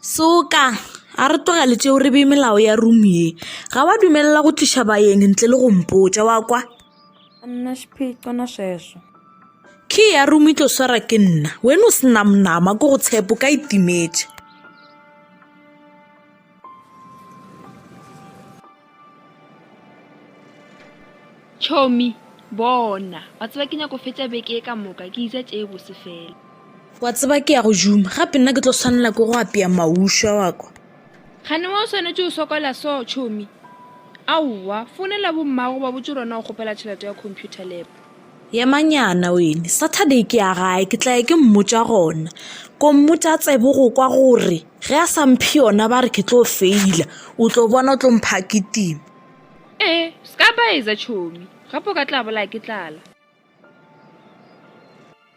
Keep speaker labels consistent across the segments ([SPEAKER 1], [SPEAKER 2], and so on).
[SPEAKER 1] Suka! A re tlogele tšeo re bee melao ya room ye. Ga wa dumelela go tliša baeng ntle le go mpotša, wa kwa? A nna
[SPEAKER 2] xiphiqo na sweswo? Key ya
[SPEAKER 1] room e tlo swara ke nna. Wena o senamnama ko go tshepo ka itimetše.
[SPEAKER 3] Tšhomi, Bona, wa tseba ke nyako fetša beke ye ka moka ke ija tše bose fela. Wa tseba ke
[SPEAKER 1] ya go juma gape nna ke tlo swanela ke go apea maušwa wa kwa. Gane wa o
[SPEAKER 3] swanetše o sokola so, Tšhomi? Aowa, founela bommago ba botše rona o kgopela tšhelete ya computer lab. Yemanyana
[SPEAKER 1] wene, Saturday ke ya gae, ke tla ya ke mmotša gona. Kommotša tsebo go kwa gore ge a sa mphe yona ba re ke tlo feila, o tlo bona o tlo mpha kitima. Ee, se
[SPEAKER 3] ka ba etsa tšhomi, gape o ka tla bolaya ke tlala.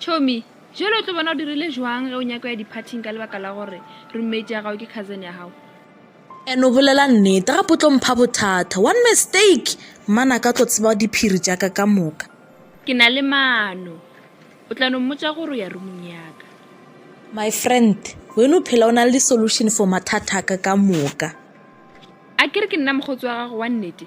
[SPEAKER 3] Chomi, jwale o tlo bona o dirile jwang ge o nyako ya diphathing ka lebaka la gore roommate ya gago ke cousin ya gago. And o bolela
[SPEAKER 1] nnete gape o tlo mpha bothata. One mistake mmana ka tlo tseba diphiri tša ka ka moka. Ke na le
[SPEAKER 3] maano. O tla no mmotša gore o ya roomong ya ka. My
[SPEAKER 1] friend, wena o phela o na le di-solution for mathata a ka ka moka. A
[SPEAKER 3] ke re ke nna mokgotsi wa gago wa nnete?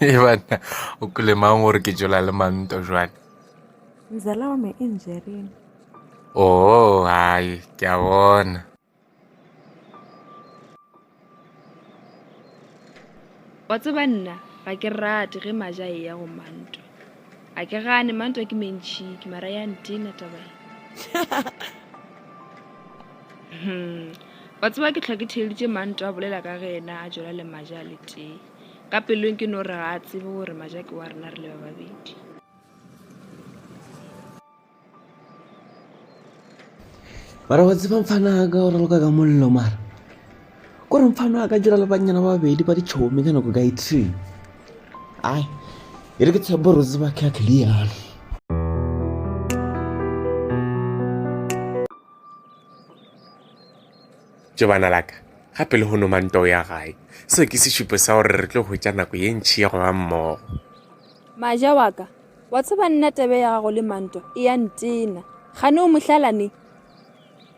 [SPEAKER 2] e
[SPEAKER 4] banna o kulemang gore ke tšola le manto jwale mzala
[SPEAKER 2] wa me e njereng oo
[SPEAKER 4] hai ke a bona
[SPEAKER 3] wa tseba nna ga ke rate ge maja e ya go manto a ke gane manto ke mentšhiki mara ya ntena taba hmm. wa tseba ke tlhoke theleditše manto a bolela ka ge ena a jola le maja le tee ka pelong ke no re ga a tsebe gore majake wa rena re le ba babedi
[SPEAKER 5] mara wa tsebang fana ka gore loka ka mollo mara ko re mfano a ka dira le bannyana ba babedi ba ditšhomi ka nako ka ithree ai e re ke tshepo gore o tseba ke a clear
[SPEAKER 4] Tšo bana la ka, gape lehono mantwa o ya gae. Seo ke sešupo sa gore re tlo hwetša nako ye ntši ya go ba mmogo. Maja
[SPEAKER 3] wa ka, wa tseba nna tebe ya gago le mantwa e ya ntena. Kgane o mohlalane?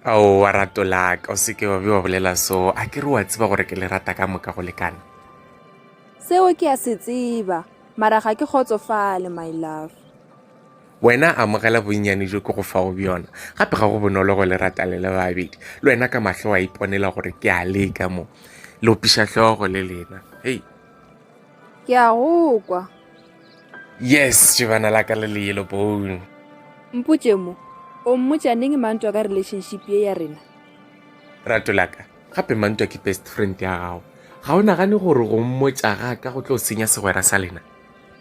[SPEAKER 4] Aowa rato la ka, o se ke wa be wa bolela soo. A ke re wa tseba gore ke le rata ka moka go lekana?
[SPEAKER 3] Seo ke a se tseba, mara ga ke kgotsofale, my love. Wena
[SPEAKER 4] amogela bonnyane bjo ke go fago bjona. Gape ga go bonolo go le rata le le babedi. Le wena ka mahlo wa iponela gore ke a leka mo. Le opiša hlogo le lena. Hei. Ke
[SPEAKER 3] a go kwa. Yes,
[SPEAKER 4] jebana la ka le le yellow bone. Mpotše
[SPEAKER 3] mo, o mmotša neng mantwa ka relationship ye ya rena? Rato
[SPEAKER 4] la ka, gape mantwa ke best friend ya gago. Ga o nagane gore go mmotša ga ka go tlo senya segwera sa lena?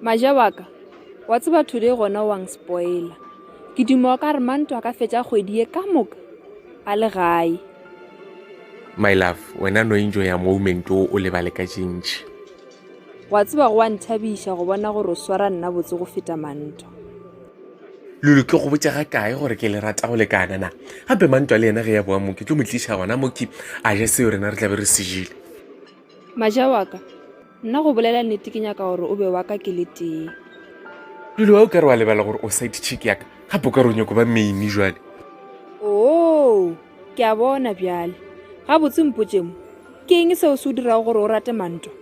[SPEAKER 3] maja wa ka wa tseba today gona wang spoiler ke duma wa ka re manto a ka fetša kgwedi ye ka moka a le gae
[SPEAKER 4] my love wena no enjo ya moment o o lebale ka tšintši wa
[SPEAKER 3] tseba go wa nthabiša go bona gore o swara nna botse go feta manto
[SPEAKER 4] lulu ke go botša ga kae gore ke le rata go lekana na gape mantwa le yena ge ya boa moki tlo mo tliša gona moki a ja seo rena re tlabe re sejile Maja
[SPEAKER 3] wa ka, nna go bolela nnete ke nyaka gore o be wa ka ke le tee. Lulu,
[SPEAKER 4] a o ka re wa lebala gore o side chick ya ka? Gape o ka re o nyako ba maine jwale? Oo,
[SPEAKER 3] ke a bona bjale. Gabotse mpotše mo, ke eng seo se o dirago gore o rate mantwa?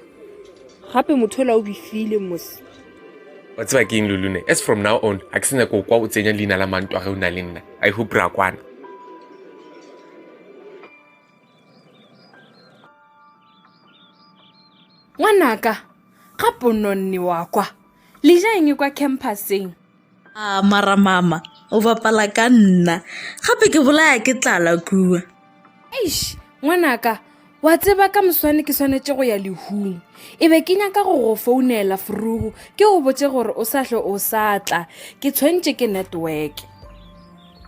[SPEAKER 3] Gape motho ola o bifile mose. Wa tseba
[SPEAKER 4] ke eng Lulu ne? As from now on, a ke se nyako o kwa o tsenya leina la mantwa ge o na le nna. I hope ra kwana.
[SPEAKER 2] ngwanaka ga pononne wa kwa le ja eng kwa campuseng a mara
[SPEAKER 1] mama o bapala ka nna gape ke bolaya ke tlala kua eish
[SPEAKER 2] ngwanaka wa tseba ka moswane ke swanetše go ya lehung e be ke nyaka go go founela forugu ke go botse gore o sa hle o sa tla ke tshwentše ke network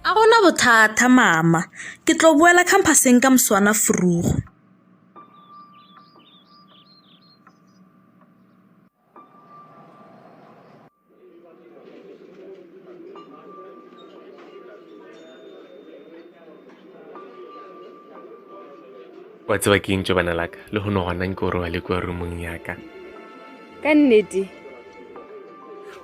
[SPEAKER 2] A
[SPEAKER 1] go na bothata, Mama. Ke tlo boela khamphaseng ka moswana vroeg.
[SPEAKER 4] wa tseba ke ntse bana laka le go no gona nke o robale kwa rumong yaka ka
[SPEAKER 3] nnete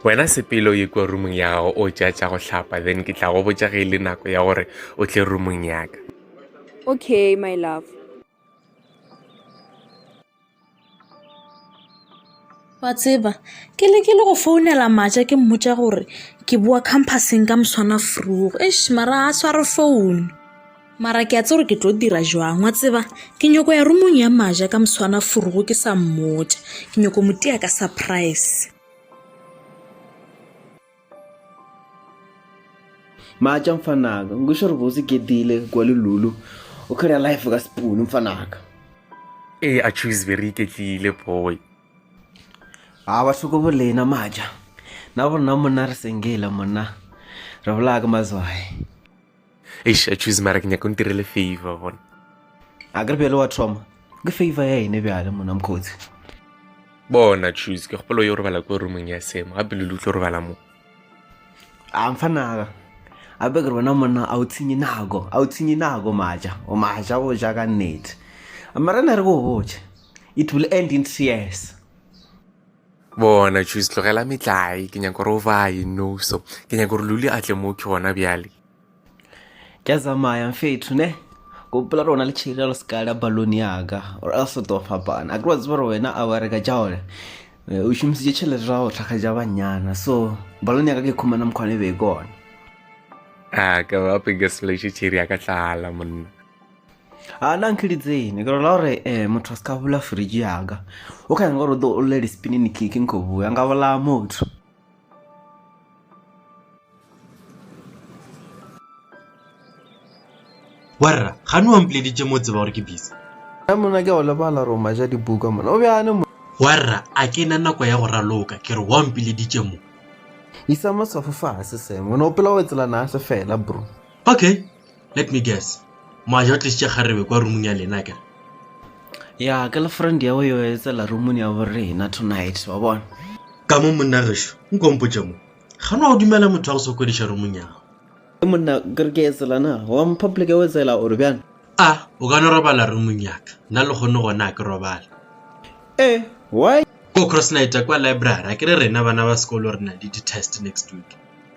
[SPEAKER 4] Wena sepele o ye kua rumong ya gago o tša tša go hlapa then ke tla go botša ge e le nako ya gore o tle rumong ya ka. Okay,
[SPEAKER 3] my love.
[SPEAKER 1] Wa tseba, ke le ke le go founela matša ke mmotša gore ke boa campuseng ka moswana frugo. Eish, mara a sware founu. mara ke a tse gore ke tlo dira jwang wa tseba ke nyoko ya rumong ya maja ka moswana furugo ke sa mmotša ke nyoko motia ka surprise
[SPEAKER 5] matša mfanaka nkuša gore bose ke dile kwa lelulu o kgera life ka sepunu mfanaka ee
[SPEAKER 4] a choose very iketlile boy
[SPEAKER 5] a ba hloko bolena matša na borona monna re sengela monna re bolaya ka mazwae eish
[SPEAKER 4] choose mara ke nyaka o ntirele favor bona a ke re
[SPEAKER 5] bjale wa thoma ke favor ya ene bjale mona mokgotsi
[SPEAKER 4] bona choose ke kgopolo yo robala ko roomong ya semo gape lele o tlo robala mo a mfa naga
[SPEAKER 5] gape ke re wena monna a o tshenye nako a o tshenye nako maja o maja go ja ka nnete mara na re ko o botse it will end in tears
[SPEAKER 4] bona chus tlogela metlae ke nyako gore o baye noso ke nyako gore luli a tle mo ke gona bjale
[SPEAKER 5] ke a tsamaya mfetho ne gopola rona le tšhiri le seka la balone yaka or else o tlo fapana a ke wa tseba gore wena a wa reka ja one eh, o šomisitše tšhelete ra go tlhaga ja bannyana so balone yaka ke khumana mokgwane be kone a
[SPEAKER 4] ka ba pekeseleše tšhiri ya ka tlala monna a
[SPEAKER 5] na nkili tsene ke rola gore um motho a se ka bula fridge yaka o kgang gore o tlo o lele spinini keke nko bua nka bolaya motho
[SPEAKER 6] warra gane wa mpoleditše mo tseba gore ke busy a mona ke go
[SPEAKER 5] lebala roma ja dibuka mona o bjane mo warra a ke
[SPEAKER 6] na nako ya go raloka ke re wa mpoleditše mo isa
[SPEAKER 5] maswafo fase sengwe ne o pela o etselana a se fela bro okay
[SPEAKER 6] Let me guess. Moaja o tlisitše kgarebe kwa rumung ya lena kere. Ya,
[SPEAKER 5] girlfriend ya yo etsela rumung ya bo rena tonight, wa bona. Ka mo monna
[SPEAKER 6] gešo, nkompotše mo. Ga no a dumela motho a go sokodiša rumung ya gago. E monna, ke
[SPEAKER 5] re ke etsela na, wa mo public ya o etsela gore bjana. A, o ka no robala
[SPEAKER 6] rumung yaka, nna le kgone gona a ke robale. Eh,
[SPEAKER 5] why? Ko cross
[SPEAKER 6] night kwa library, a ke re rena bana ba sekolo re na le di-test next week.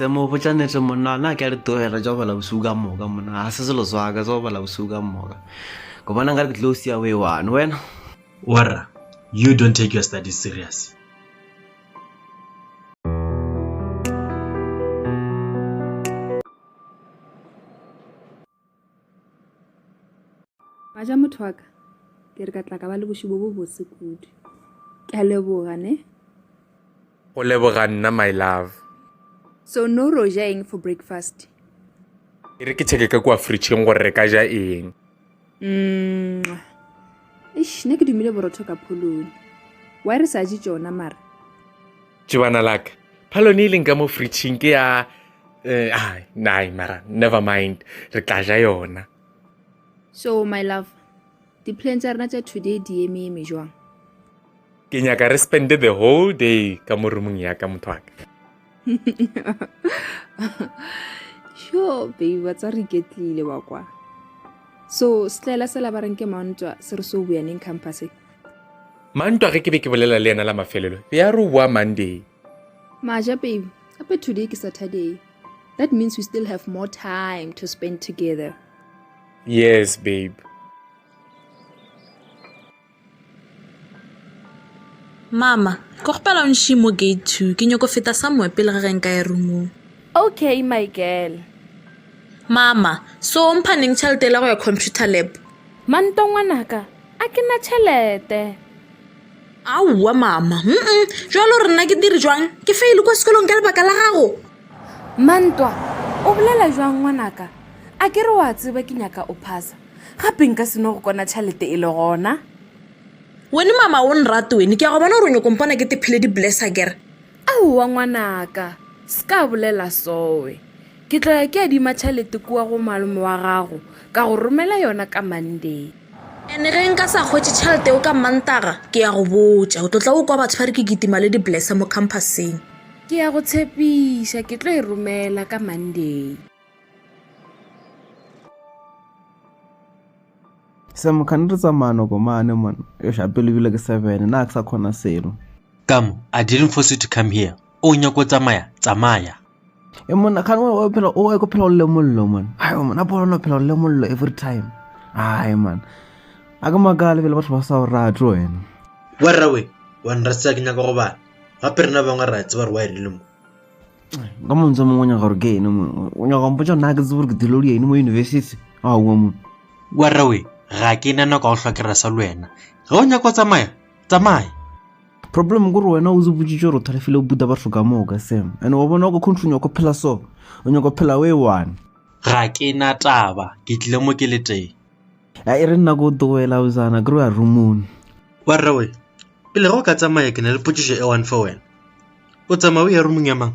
[SPEAKER 5] se mo botša nete monna na ke a di tlogela tša go bala bosiu ka moka monna ga se selo swaka tsa go bala bosiu ka moka ke bona nka re ke tlo o sia o e one wena warra
[SPEAKER 6] you don't take your studies serious
[SPEAKER 3] Wa ja motho wa ka, ke re ka tla ka ba le bošego bo bose kudu. Ke a leboga, ne?
[SPEAKER 4] Go leboga nna, my love. So
[SPEAKER 3] no re o ja eng for breakfast? E
[SPEAKER 4] re ke checke ka kua fridgeng gore re ka ja eng. Mwa.
[SPEAKER 3] Eish, nna ke dumile borotho ka pholone. Why re sa je tšona mara? Tšebana
[SPEAKER 4] la ka, phalone e leng ka mo fritšhing ke ya eh, ah, nai mara never mind re tla ja yona so
[SPEAKER 3] my love di-plan tsa rena tsa today di emeeme jwang ke
[SPEAKER 4] nyaka re spende the whole day ka mo roomong ya ka motho wa ka
[SPEAKER 3] sure baby ba tsa re iketlile wa kwa so setlaela sela ba reng ke mantwa se re so boyaneng campuseng mantwa
[SPEAKER 4] ge ke be ke bolela le yena la mafelelo be a re o boa monday maja
[SPEAKER 3] baby gape today ke saturday that means we still have more time to spend together yes
[SPEAKER 4] babe
[SPEAKER 1] mama ke gopela o nšie mo gate two ke nyoko feta somewhere pele ga ge nka ya roomong okay my
[SPEAKER 2] girl
[SPEAKER 1] mama so o mphaneng tšhelete e la go ya computer lab mantongwanaka
[SPEAKER 2] A ke na tšhelete.
[SPEAKER 1] Aowa, mama. Mm-mm. Jalo re nna ke dire jwang? Ke faile kwa sekolong ka lebaka la gago. Mantwa,
[SPEAKER 2] o bolela jwang ngwanaka? A ke re wa tseba ke nyaka o phasa. Gape nka se no go kona tšhelete e le gona. Wene
[SPEAKER 1] mama o nrate wene. Ke a go bona gore o nyoko mpona ke tephile di-blesser kere. Aowa
[SPEAKER 2] ngwanaka, se ka bolela sowe. Ke tlo ya ke adima tšhalete kua go malome wa gago, ka go romela yona ka Monday. And ge nka
[SPEAKER 1] sa hwetše tšhalete yeo ka Mantaga, ke ya go botša. O tlo tla o kwa batho ba re ke kitima le di-blesser mo campuseng. Ke ya go
[SPEAKER 2] tshepiša ke tlo e romela ka Monday.
[SPEAKER 5] Sam, kgane re tsamaya noko mane mon. Yosh, a pelo ebile ke seven, na ke sa kgona selo. Ka mo, I
[SPEAKER 6] didn't force you to come here. O nyaka o tsamaya, tsamaya. e mona
[SPEAKER 5] kgane o phela o ye ko phela o le mollo mona ayo mona a bona phela o le mollo every time ayi mona a ke makale pele batho ba sa o rate wena warrawe
[SPEAKER 6] wa nrasisa ke nyaka go bana gape rena bangwe ra tseba gore wa erile mo ka
[SPEAKER 5] montse mongwe o nyaka gore ke ene mone o nyaka go mpotsa nna ke tsebe gore ke dilo le ene mo university a oa mone warrawe
[SPEAKER 6] ga ke nana ka go hlwa ke rasa le wena ge o nyaka go tsamaya tsamaya problem
[SPEAKER 5] gore wena o ziboditse gore o thalefile o buta batho ka moo ka sem and wa bona ko country nyako phela so o nyako phela o e one ga ke na
[SPEAKER 6] taba ke tlile mo ke le teng a e re nna
[SPEAKER 5] ko togela o zana kry a rumone wa rrawe
[SPEAKER 6] pele go ka tsamaya ke na le potsiso e one fa wena o tsamaya o ya rumong ya mang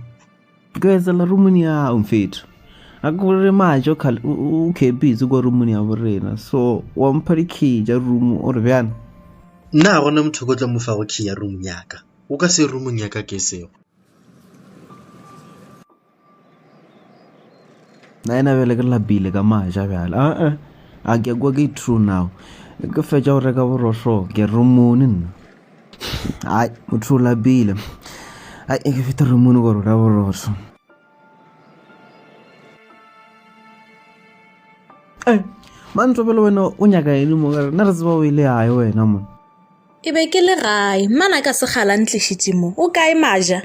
[SPEAKER 6] Ke etselela
[SPEAKER 5] rumuni ya hao mfethu. A ke gore majo o khepitse kwa rumuni ya borena. So wa mpha dikhi ja rumu o re bjana. Nna ga gona
[SPEAKER 6] motho ko tla mo fago key ya room ya ka o ka se roomong ya ka ke sego
[SPEAKER 5] na ena bjale ke lapile ka maja bjale aa a ke kwa ke true now ke fetša go reka borohlo ke romone nna Hai, motho o lapile. Hai, e ke fete romono gore o la borotho. Eh, mantlo pele wena o nyaka ene mo gare, nna re tseba o ile yae wena mo. Ke be ke le
[SPEAKER 1] gae, mmana ka segala ntlišitše mo. O kae maja?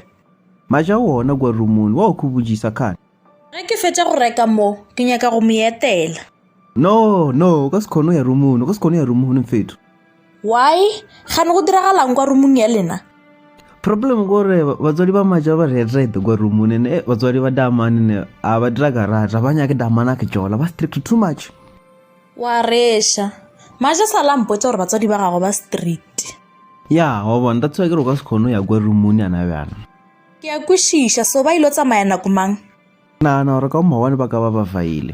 [SPEAKER 1] Maja
[SPEAKER 5] wona kwa romono, wa o khubujisa khana.
[SPEAKER 1] Ge
[SPEAKER 5] ke
[SPEAKER 1] fetša go reka mo, ke nyaka go
[SPEAKER 5] mo
[SPEAKER 1] etela. No,
[SPEAKER 5] no, o ka se kgone go ya rumong, o ka se kgone go ya rumong, mfethu. Why?
[SPEAKER 1] Gane go diragalang kwa rumong ya lena? Problem
[SPEAKER 5] gore batswadi ba maja ba retrete kwa rumong and eh, batswadi ba damane ne a ba dira garata ba nyake damana ke jola ba strict too much. Wa
[SPEAKER 1] reša. Maja sa la mpotsa gore batswadi ba gagwe ba strict. Ya, wa
[SPEAKER 5] bona, that's why ke re o ka se kgone go ya kwa rumong yana bjana. Ke a
[SPEAKER 1] kwešiša, so ba ilo tsamaya nako mang? Ke nagana gore ka
[SPEAKER 5] mawone ba ka ba ba faile.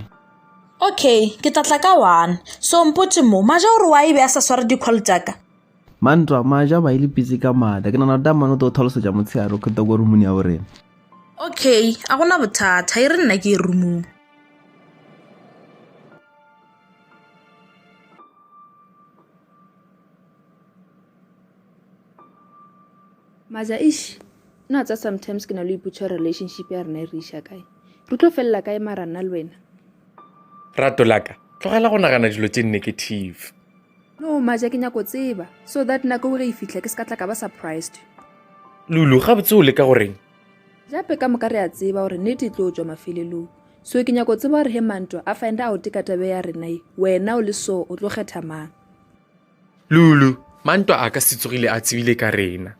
[SPEAKER 5] Okay,
[SPEAKER 1] ke tla tla ka one. So mpotše mo, Maja o re wa ebe a sa sware di-call tša ka? Mantwa,
[SPEAKER 5] Maja ba ile pitsi ka maatla. Ke nagana gore Tamane o tlo tlhalosetša motshehare o kgeta ko rumuni ya borena. Okay,
[SPEAKER 1] a gona bothata, e re nna ke e rumung.
[SPEAKER 3] Maza, eish, no tsa sometimes ke na le iputsa relationship ya rena e re iša kae. Re tlo felela kae mara nna le wena? Rato
[SPEAKER 4] laka, tlogela go nagana dilo tše negative. No, Maza,
[SPEAKER 3] ke nyako tseba so that nako ge e fihla ke se ka tla ka ba surprised. Lulu,
[SPEAKER 4] gabotse o leka goreng? Jape ka moka
[SPEAKER 3] re a tseba gore nete e tlo tšwa mafelelong. So ke nyako tseba gore he mantwa a find out ka tabe ya rena ye, wena o le so o tlo kgetha mang?
[SPEAKER 4] Lulu, Mantwa a ka se tsogile a tsebile ka rena.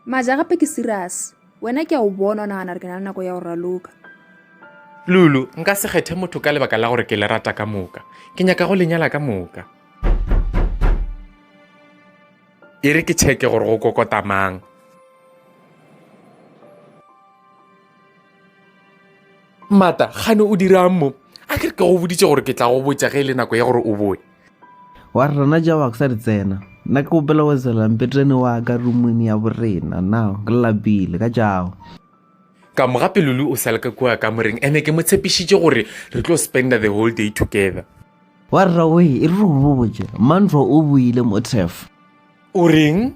[SPEAKER 4] Maja,
[SPEAKER 3] Gape ke serious. Wena ke a o bona o nagana re ke na le nako ya go raloka.
[SPEAKER 4] Lulu, Nka se kgethe motho ka lebaka la gore ke le rata ka moka. Ke nyaka go lenyala ka moka. E re ke tšheke gore go kokota mang. mata gane o dirang mo a ke re ke go boditše gore ke tla go botša ge e le nako ya gore o boe wa re rena
[SPEAKER 5] jawa ke sa di tsena nna ke gopela go tsela mpetrene wa ka rumone ya borena na ke lapile ka jago ka mo
[SPEAKER 4] gape lulu o sale ka kua ka moreng ene ke mo tshepišitše gore re tlo spender the whole day together wa rrawe
[SPEAKER 5] e re go botše mantlo o boile mo tef o reng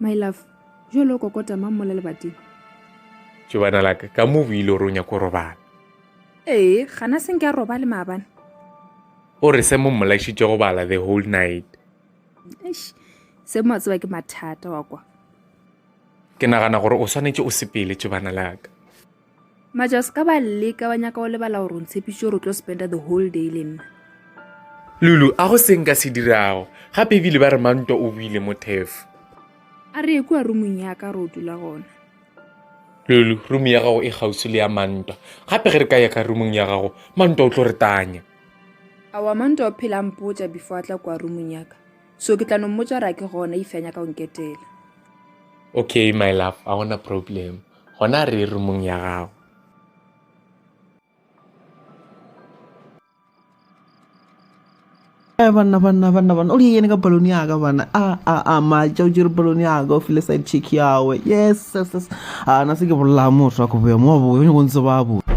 [SPEAKER 3] My love, jo lo kokota mang mo le lebating? Jo
[SPEAKER 4] bana laka, ka mo buile gore o nyako robala. Ee,
[SPEAKER 3] gana se nke a robale maabane. O
[SPEAKER 4] re se mo mmolašitše go bala the whole night. Eish,
[SPEAKER 3] se mo tseba ke mathata wa kwa. Ke
[SPEAKER 4] nagana gore o swanetše o sepele jo bana laka. majas
[SPEAKER 3] ka ba leka ba nyaka go lebala gore o ntshepiše gore o tlo spenda the whole day le nna lulu
[SPEAKER 4] a go seng ka se dirago gape ebile ba re mantwa o buile mo tefo a re
[SPEAKER 3] ekua rumong ya ka re o dula gona
[SPEAKER 4] lulu rumo ya gago e gausi le ya mantwa gape ge re ka ya ka rumong ya gago mantwa o tlo re tanya awa
[SPEAKER 3] mantwa o phela mpotsa before a tla kua rumong ya ka so ke tla no mmotsa ra ke gona ifeanya ka go nketela
[SPEAKER 4] okay my love a gona problem Gona re ye rumong ya gago. Eh,
[SPEAKER 5] banna banna banna banna o di yene ka balone ya ka bana a a a matša o tšere balone ya ka o file side check yawe yes yes yes a na se ke bolela motho wa koboya mo wa boya o nyako ntse ba boya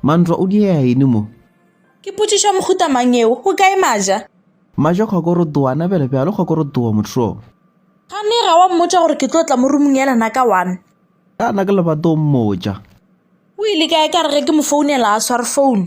[SPEAKER 5] Mantwa o diea eng mo? Ke potšišo ya
[SPEAKER 1] mohuta mang yeo? Go kae Maja? Maja
[SPEAKER 5] kgokorotoana, bjale bjalo kgokorotoa motho. Kgane ga
[SPEAKER 1] wa mmotša gore ke tlo tla mo rumong ya lena ka one? Kana ke lebato
[SPEAKER 5] o mmotša. O ile
[SPEAKER 1] kae ka re ge ke mo founela a sware founu?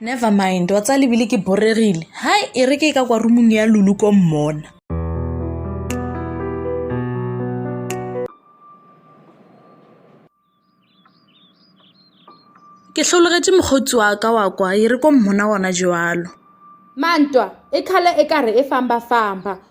[SPEAKER 2] never
[SPEAKER 1] mind wa tsa lebile ke boregile hai e re ke ka kwa rumong ya lulu ko mmona ke hlologetše mokgotsi wa ka wa kwa e re ko mmona gona jalo mantwa
[SPEAKER 2] e khala e ka re e famba famba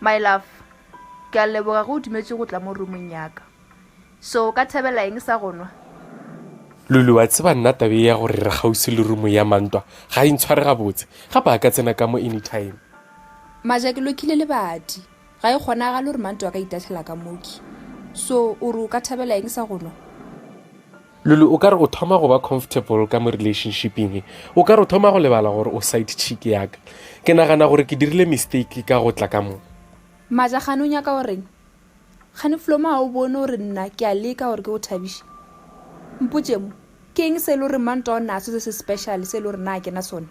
[SPEAKER 3] My love, ke a leboga ge o dumetše go tla mo roomong yaka. So o ka thabela eng sa go nwa? Lulu,
[SPEAKER 4] Wa tseba nna taba ye ya gore re kgauswi le room ya Mantwa ga e ntshware gabotse, gape a ka tsena ka mo anytime. Maja, Ke
[SPEAKER 3] lokhile lebati. Ga e kgonagale gore Mantwa a ka itahlela ka moki. So o re o ka thabela eng sa go nwa?
[SPEAKER 4] Lulu, o ka re o thoma go ba comfortable ka mo relationshiping e. O ka re o thoma go lebala gore o side chick yaka. Ke nagana gore ke dirile mistake ka go tla ka mo. Maja, Gane o
[SPEAKER 3] nyaka go reng? Gane Flomo ga o bone gore nna ke a leka gore ke go thabiše? Mpotše mo, ke eng se e le gore Mantwa o naso se se special se e le gore na ke na sona?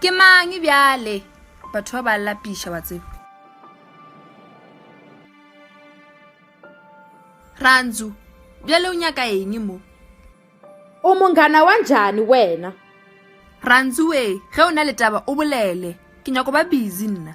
[SPEAKER 3] ke mang bjale batho ba ba lapiša wa tseba rantsu bjale o nyaka eng mo o
[SPEAKER 2] mongana wa njani wena rantsu
[SPEAKER 3] we ge o na le taba o bolele ke nyako ba busy nna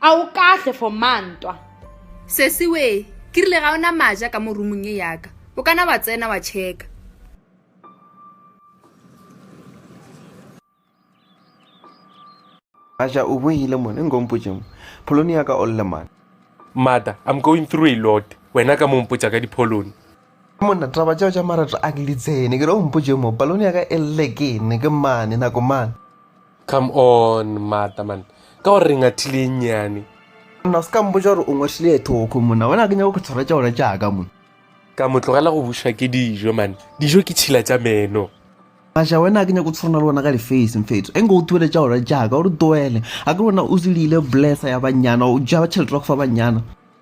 [SPEAKER 2] A o kahle for ma ntwa? Sesi
[SPEAKER 3] wee, ke rile ga o na maja ka mo roomong ye ya ka. O ka na wa tsena wa checka.
[SPEAKER 5] Maja o boile mona, e nko o mpotše mo. Pholone ya ka o lle mane. Mother, I'm
[SPEAKER 4] going through a lot, wena ka mo o mpotša ka dipholone. Monna, taba
[SPEAKER 5] tšeo tša marato a ke di tsene, ke re o mpotše mo, palone ya ka e lle ke ne ke mane, nako mane. Come
[SPEAKER 4] on, mata man, ka gore re ngathile e nnyane. Monna, o se ka
[SPEAKER 5] mpotša gore o ngwathile e thoko, monna, wena ke nyako ke tshwara tša ona tša ka, monna. Ka mo tlogela
[SPEAKER 4] go bušwa ke dijo, man, dijo ke tšhila tša meno. Masha, wena
[SPEAKER 5] ke nyako tshwana le wena ka lifeisi, mfetso, e nko o tuele tša ona tša ka, o re tuele, a ke wena o zilile blessa ya bannyana, o ja tšhelete wa go fa bannyana.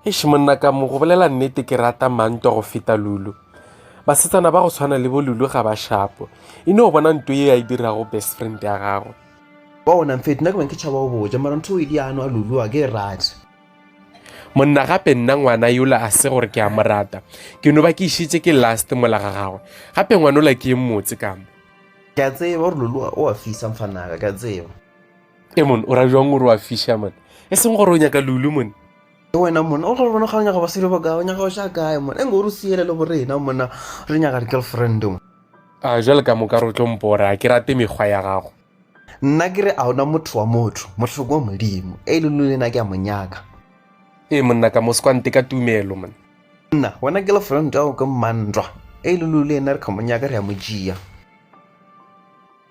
[SPEAKER 5] Eish monna
[SPEAKER 4] ka mo go bolela nnete ke rata mantwa go feta lulu basetsana ba go tshwana le bo lulu ga ba shapo e no bona nto ye ya e dirago best friend ya gagwe bona mfeto
[SPEAKER 5] nna ke bang ke tšhaba go boja mara ntho e di ano a lulu a ke e rate
[SPEAKER 4] monna gape nna ngwana yola a se gore ke a mo rata ke no ba ke išitse ke last mola ga gagwe gape ngwanola ke e mmotse ka mo ke a tseba
[SPEAKER 5] gore lulu o a fisa mfanaka ke a tseba e mone
[SPEAKER 4] o ra jwang gore o a fisha mone e seng gore o nyaka lulu mone ke wena mona o
[SPEAKER 5] gabone ga o nyaga basadi ba kae o nyaga o sha kae mona e nko re siele le borena mona re nyaga di-girlfriend mo a jale ka
[SPEAKER 4] moka re tlo mpore a ke rate mekgwa ya gago nna ke re
[SPEAKER 5] a ona motho wa motho mohloko wa modimo e le lo lena ke a monyaka ee monna
[SPEAKER 4] ka moskwante ka tumelo mona nna wena ke
[SPEAKER 5] lefront ao ke mmantwa e le lo lena re kgamonyaka re ya mojia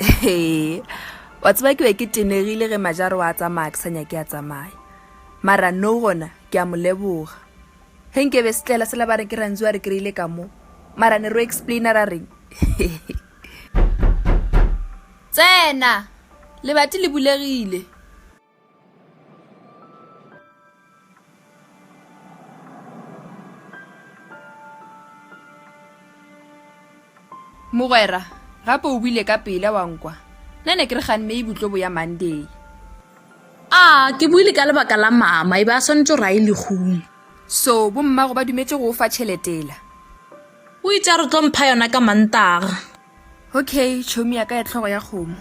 [SPEAKER 3] ee wa tseba ke be ke tenegile ge majaro wa tsamaya ke sa nyake a tsamaya mara no gona ke a mo leboga ge nke be se tlela se la ba re ke rantsi wa re kry-ile ka mo mara ne ro explaina ra reng tsena lebati le bulegile mogwera gape o buile ka pele wa nkwa nna ne ke re ganne e butlobo ya monday a
[SPEAKER 1] ke buile ka lebaka la mama e be a swanetse gore a e legong so bommago
[SPEAKER 3] ba dumetse go o fa tšheletela o
[SPEAKER 1] itse a re tlo mpha yona ka mantaga okay
[SPEAKER 3] chomi ya ka ya tlhogo ya kgomo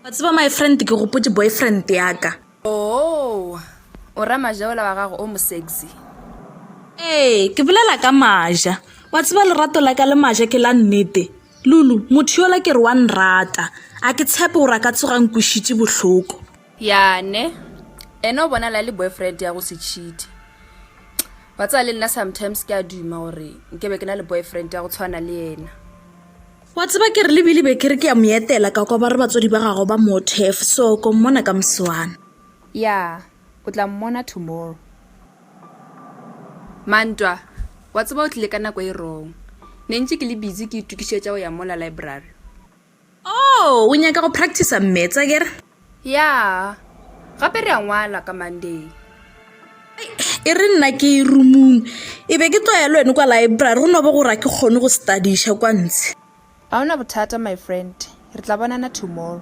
[SPEAKER 1] wa tseba my friend ke gopotse boyfriend yaka oo oh,
[SPEAKER 3] o ra majaola wa gago o mosexy ee
[SPEAKER 1] ke bolela ka maja wa tseba lerato la ka le maja ke la nnete lulu motho yola ke re wa nrata a ke tshepe gore a ka tsogang kwešiše bohloko Ya ne
[SPEAKER 3] ene o bonala le boyfriend ya go se cheat ba tsaya le nna sometimes ke a duma gore nke be ke na le boyfriend ya go tshwana le ena wa
[SPEAKER 1] tseba ke re lebile be ke re ke ya mo etela ka kwa ba re batswadi ba gago ba mothef so ko mmona ka moswana ya
[SPEAKER 3] o tla mmona tomorrow mantwa wa tseba o tlile ka nako e wrong ne ntse ke le busy ke itokišetša go ya mola library
[SPEAKER 1] Oh, o nyaka go practicer mmets, akere? Ya,
[SPEAKER 3] gape re a ngwala ka Monday.
[SPEAKER 1] E re nna ke e rumung, e be ke tloya le wene kwa library, go no bo gore a ke kgone go studiša kwa ntshe. A ona bothata,
[SPEAKER 3] my friend, re tla bonana tomorrow.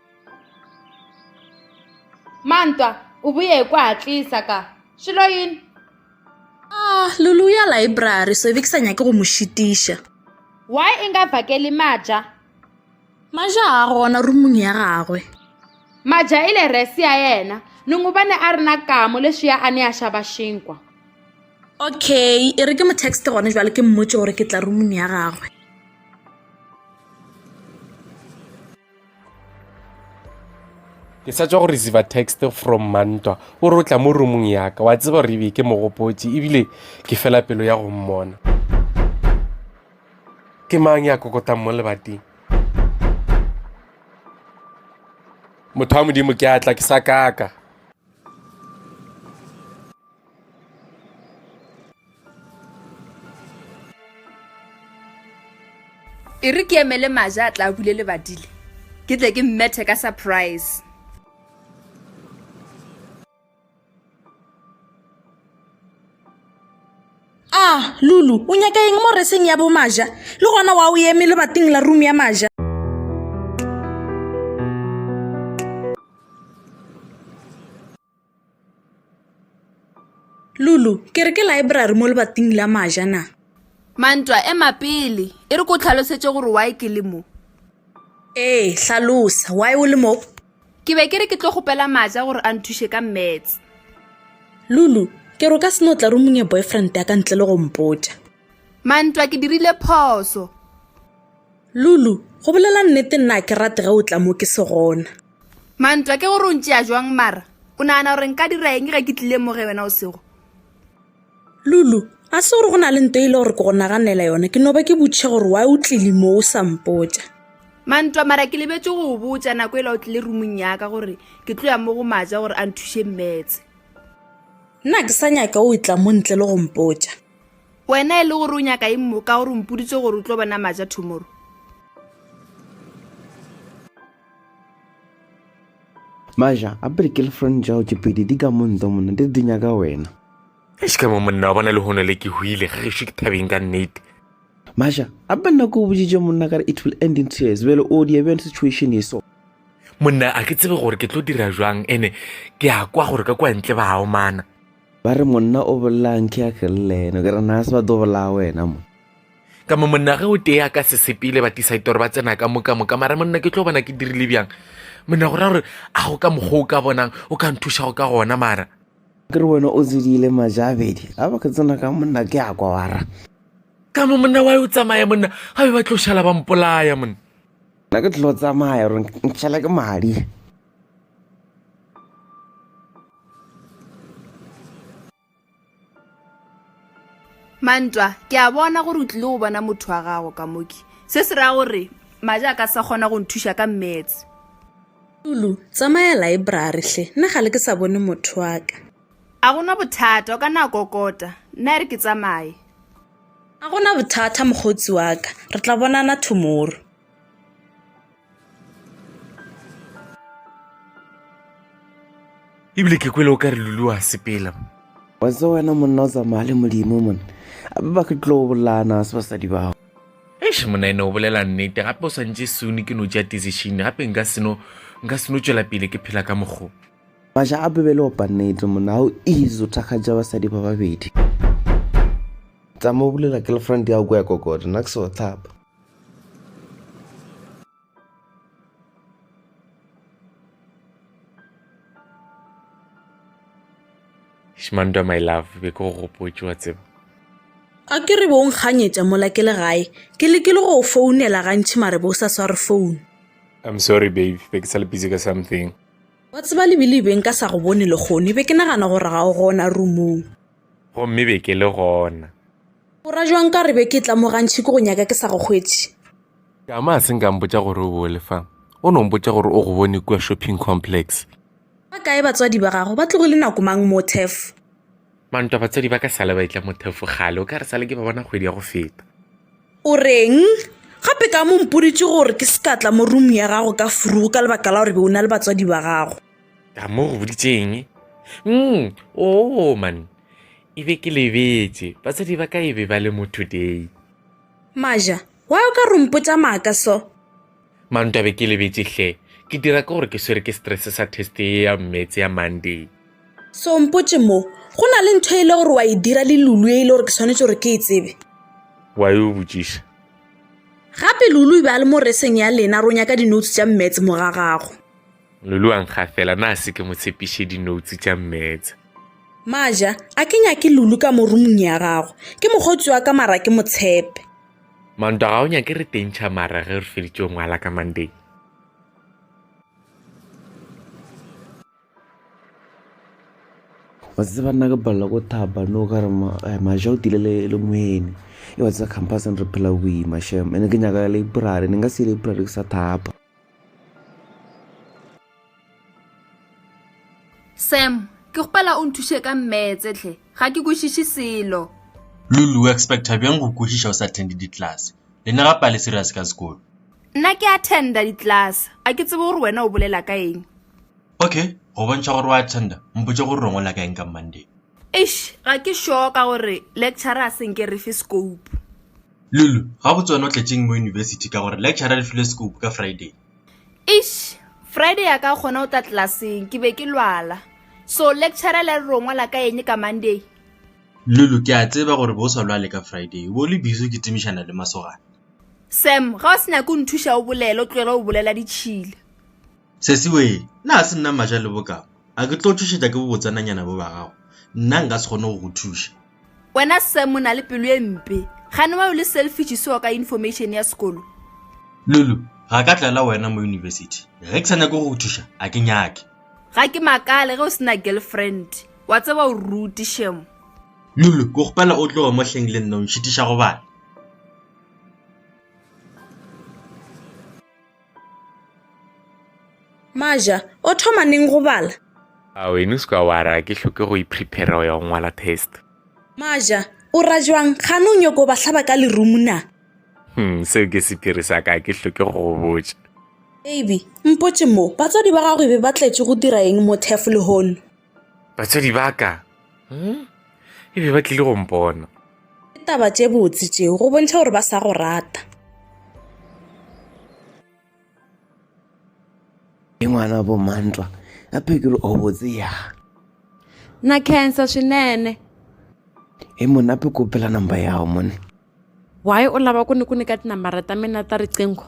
[SPEAKER 2] mantwa o boye ko a tlisa ka šelo yini a
[SPEAKER 1] ah, lulu ya library so ebe ke sa nyake go mo šitiša why e
[SPEAKER 2] nga vakeli maja maja
[SPEAKER 1] a gona rumong ya gagwe maja
[SPEAKER 2] e le resi ya yena nongobane a rena kamo leswi ya a ne a xava xinkwa
[SPEAKER 1] okay e re ke mo text gone jwale ke mmotse gore ke tla rumong ya gagwe
[SPEAKER 4] ke sa tswa go receive text from mantwa o re o tla mo roomong yaka wa tseba gore ebe ke mogopotse ebile ke fela pelo ya go mmona ke mang ya kokotang mo lebateng motho wa modimo ke atla ke sa kaka
[SPEAKER 3] e re ke emele maja a tla bule le badile ke tle ke mmethe ka surprise
[SPEAKER 1] ah lulu o nyaka eng mo reseng ya bomaja le gona wa o eme le bating la room ya maja Lulu, ke re ke laebrari mo lebating la maja na? Mantwa,
[SPEAKER 3] ema pele. E re ko tlhalosetše gore why ke le mo. Ee, hlalosa.
[SPEAKER 1] Why o le mo? Ke be ke re ke
[SPEAKER 3] tlo kgopela maja gore a nthuše ka maths.
[SPEAKER 1] Lulu, ke re o ka se no tla rumong ya boyfriend ya ka ntle le go mpotša. Mantwa, ke
[SPEAKER 3] dirile phoso.
[SPEAKER 1] Lulu, go bolela nnete nna a ke rate ge o tla mo ke se gona. Mantwa, ke
[SPEAKER 3] gore o ntšea jwang mara o nagana gore nka dira eng ge ke tlile mo ge wena o sego?
[SPEAKER 1] Lulu, a se gore go na le nto e le gore ke go naganela yona, ke no ba ke butše gore why o tlile mo o sa mpotša. Mantwa, mara
[SPEAKER 3] ke lebetše go o botša nako e la o tlile rumong yaka gore ke tlo ya mo go maja gore a nthuše mmetse. Nna
[SPEAKER 1] ke sa nyaka o etla mo ntle le go mpotša. Wena e le
[SPEAKER 3] gore o nyaka eng mo ka gore o mpoditše gore o tlo bona maja tomorrow?
[SPEAKER 5] maja a pele girlfriend jago tše pedi di ka montho monna di re di nyaka wena eish ka mo
[SPEAKER 4] monna wa bona le hono le ke hwile ge gešo ke thabeng ka nnete maja
[SPEAKER 5] a be nna ko o boditše monna kare it will end in tears bjale o dia bjang situation e so monna a
[SPEAKER 4] ke tsebe gore ke tlo dira jwang ene ke a kwa gore ka kwa ntle ba aomana Ba re, Monna
[SPEAKER 5] o bolaang ke ya Keleleno? Ke re, Na se ba tlo bolaya wena mo? Ka mo monnage
[SPEAKER 4] o tee a ka se sepele batisaitoro ba tsena ka moka moka mara monna ke tlo bona ke dirile bjang monna go ra gore a go ka mokgwa o ka bonang o ka nthuša go ka gona mara ke re wena o
[SPEAKER 5] tsedile majabedi a ba ke tsena ka monna ke a kwa wara ka mo
[SPEAKER 4] monna wa o tsamaya monna ga be ba tlo šala ba mpolaya monna nna ke tlo
[SPEAKER 5] tsamaya gore ntšhela ke madi
[SPEAKER 3] mantwa ke a bona gore o tlile go bona motho wa gago ka moki se se raya gore maja a ka sa kgona go nthuša ka mmetse lulu
[SPEAKER 1] tsamaya laebrary hle nna ga le ke sa bone motho wa ka a gona
[SPEAKER 3] bothata o ka na kokota nna e re ke tsamaye a
[SPEAKER 1] gona bothata mokgotsi wa ka re tla bonana tomorrow
[SPEAKER 4] ebile ke kwele o ka re lulu wa sepela wa tse
[SPEAKER 5] wena monna o tsamaya le modimo mone ape ba ke tlo bolana se basadi bao eish monna ene
[SPEAKER 4] o bolela nnete gape o swantse sone ke no ja decision gape nka seno nka seno tswela pele ke phela ka mokgo maša a bebele
[SPEAKER 5] opa nnete monna ga o easy o thakgatša basadi ba babedi tsama o bulela girlfriend ya go ya kokota nna ke se wa tlhapa
[SPEAKER 4] shmantwa my love be ke go gopotse wa tseba a ke
[SPEAKER 1] re bong kganyetša mola ke le gae ke lekile go founela gantšhi mare bo sa sware founu i'm sorry
[SPEAKER 4] babe be ke sa le busy ka something wa tseba
[SPEAKER 1] lebile beng ka sa go bone lekgone be ke nagana gore ga o gona roomong gomme be
[SPEAKER 4] ke le gona O ra jwang
[SPEAKER 1] ka re be ke tla mo gantši ke go nyaka ke sa go hwetše? Tama a
[SPEAKER 4] se nka mpotša gore o bole fa. O no mpotša gore o go bone kua shopping complex. Ba kae
[SPEAKER 1] batswadi ba gago? Ba tlogile nako mang mo Thefo? Mantwa
[SPEAKER 4] batswadi ba ka sale ba itla mo Thefo kgale, o ka re sale ke ba bona kgwedi ya go feta. O reng?
[SPEAKER 1] Gape ka mo mpoditše gore ke se ka tla mo room ya gago ka furugu ka lebaka la gore be o na le batswadi ba gago. Tama o go
[SPEAKER 4] boditše eng? Umm, oo man. E be ke lebetše. Batswadi ba ka e be ba le mo today. Maja,
[SPEAKER 1] Why o ka re o mpotša maaka so? Manto, A be
[SPEAKER 4] ke lebetše hle. Ke dira ke gore ke swere ke stress sa test ye ya Maths ya Monday. So o mpotše
[SPEAKER 1] mo. Go na le ntho e le gore wa e dira le Lulu e le gore ke swanetše gore ke e tsebe. Wa e o
[SPEAKER 4] botšiša? Gape
[SPEAKER 1] Lulu e be a le mo reseng ya lena, ro nyaka di-notes tša Maths mo ga gago. Lulu wa
[SPEAKER 4] nkgafela, na se ke mo tshepiše dinoutse tša mmetse. Maja,
[SPEAKER 1] a ke nyake Lulu ka mo rumong ya gago. Ke mokgotsi wa ka mara ke motshepe. Manto, ga
[SPEAKER 4] o nyake re tentšha mara ge re feditše ngwala ka Monday.
[SPEAKER 5] wa tseba nna ke palela ko thaba no ka re eh, maja o tile le moene e wa tseba campuseng re phela boima shem ene ke nyaka library ne nka se library ke sa thapa
[SPEAKER 3] Sam, ke kgopela o nthuše ka mmetse tlhe, ga ke kwešiše selo. Lulu, o
[SPEAKER 6] expecta bjang go kwešiša o sa attende ditlase? Le ne gape a le serious ka sekolo. Nna ke
[SPEAKER 3] attenda ditlase, a ke tsebe gore wena o bolela ka eng. Okay,
[SPEAKER 6] go bontšha gore o attenda, mpotše gore re ngola ka eng ka Monday. Eish, ga
[SPEAKER 3] ke sure ka gore lecturer a se nke re fe scope. Lulu,
[SPEAKER 6] Gabotse wena o tletšeng mo yunibesithi ka gore lecturer re file scope ka Friday. Eish,
[SPEAKER 3] Friday ya ka gona o tla tlelaseng ke be ke lwala. So lecturer le re ro ngwala ka eng ka Monday? Lulu,
[SPEAKER 6] Ke a tseba gore bo o sa lwale ka Friday, o bo o le busy o kitimišana le masogana. Sam,
[SPEAKER 3] Ga o se nyake o nthuša o bolele, o tlogele go bolela ditšhila. Sesiwee,
[SPEAKER 6] Na ga se nna Maja le bokama? A ke tlo tšhošetša ke bobotsananyana bo ba gago? Nna nka se kgone go go thuša. wena sam
[SPEAKER 3] o na le pelo e mpe gane wa o le selfish seo ka information ya sekolo lulu
[SPEAKER 6] ga ka tlela wena mo university ge ke sa nyake go go thuša a ke nyake ga ke makale
[SPEAKER 3] ge o sena girlfriend wa tseba o ruti shemo lulu ke
[SPEAKER 6] gopela o tloge mo hleng le nna o nšitiša go bana
[SPEAKER 1] Maja, o thoma neng go bala? A wena o
[SPEAKER 4] seka wa ra ke hloke go iprepare go ya go ngwala test. Maja,
[SPEAKER 1] o ra jwang gane o nyoko ba hlaba ka lerumu na? Hmm, seo
[SPEAKER 4] ke sepiri sa ka ke hloke go go botša. Baby,
[SPEAKER 1] mpotše mo, batswadi ba gago e be ba tletše go dira eng mo Turf lehono? Batswadi ba
[SPEAKER 4] ka hmm? e be ba tlile go mpona. Ke taba tše
[SPEAKER 1] botse tšeo go bontšha gore ba sa go rata.
[SPEAKER 5] Ke ngwana bo mantwa a phekelo o botse ya.
[SPEAKER 2] Na cancer swinene.
[SPEAKER 5] E mona pe kopela number ya gago mone. Why o
[SPEAKER 2] lava ku ni ku nyika tinambara ta mina ta riqingho?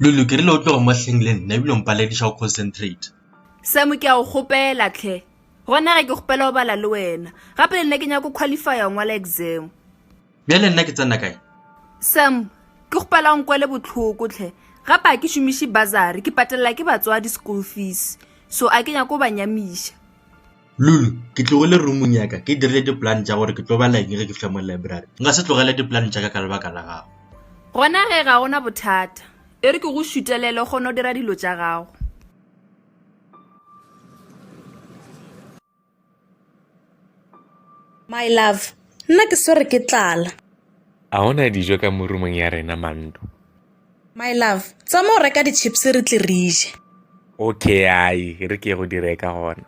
[SPEAKER 6] Lulu, ke rile o tloge mo hleng le nna ebile o mpalediša go concentrate. Sam, ke a
[SPEAKER 3] go kgopela tlhe. Gona ge ke kgopela go bala le wena. Gape le nna ke nyaka go qualifya go ngwala exam. Bjale nna
[SPEAKER 6] ke tsena kae? Sam,
[SPEAKER 3] ke kgopela o nkwele bohloko tlhe. Gape ga ke šomiše bursary, ke patelela ke batswadi school fees. So a ke nyake go ba nyamiša. Lulu,
[SPEAKER 6] Ke tlogile roomong ya ka ke dirile dipolane tša gore ke tlo bala eng ge ke fihla mo library. Nka se tlogele dipolane tša ka ka lebaka la gago. Gona ge ga
[SPEAKER 3] go na bothata. E re ke go šutelele o kgone go dira dilo tša gago.
[SPEAKER 1] My love, Nna ke swere ke tlala. A go na
[SPEAKER 4] dijo ka mo roomong ya rena, Mandu? My
[SPEAKER 1] love, tsa mo reka di chips re tle re je. Okay,
[SPEAKER 4] ai, re ke go di reka gona.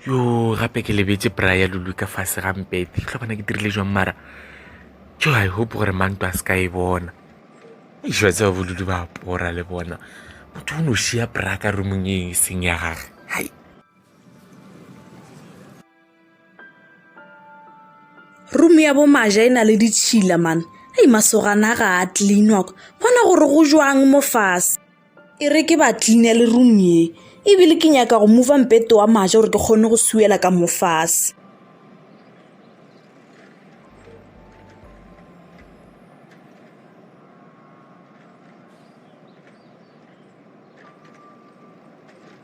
[SPEAKER 4] Yo, gape ke lebetse bra ya lulu ka fase ga mpete. Ke tlhobana ke dirile jwang mara. Jo, I hope gore manto a se ka e bona. Ešo tseo bolulu ba pora le bona. Motho o no šia bra ka rumong e seng ya gage. Hai.
[SPEAKER 1] room ya bomaja e na le ditšhila mane ei masogana ga a cleanwa kwa bona gore go jwang mo fase e re ke ba cleane le room ye ebile ke nyaka go mova mpete wa maja gore ke kgone go suela ka mo fase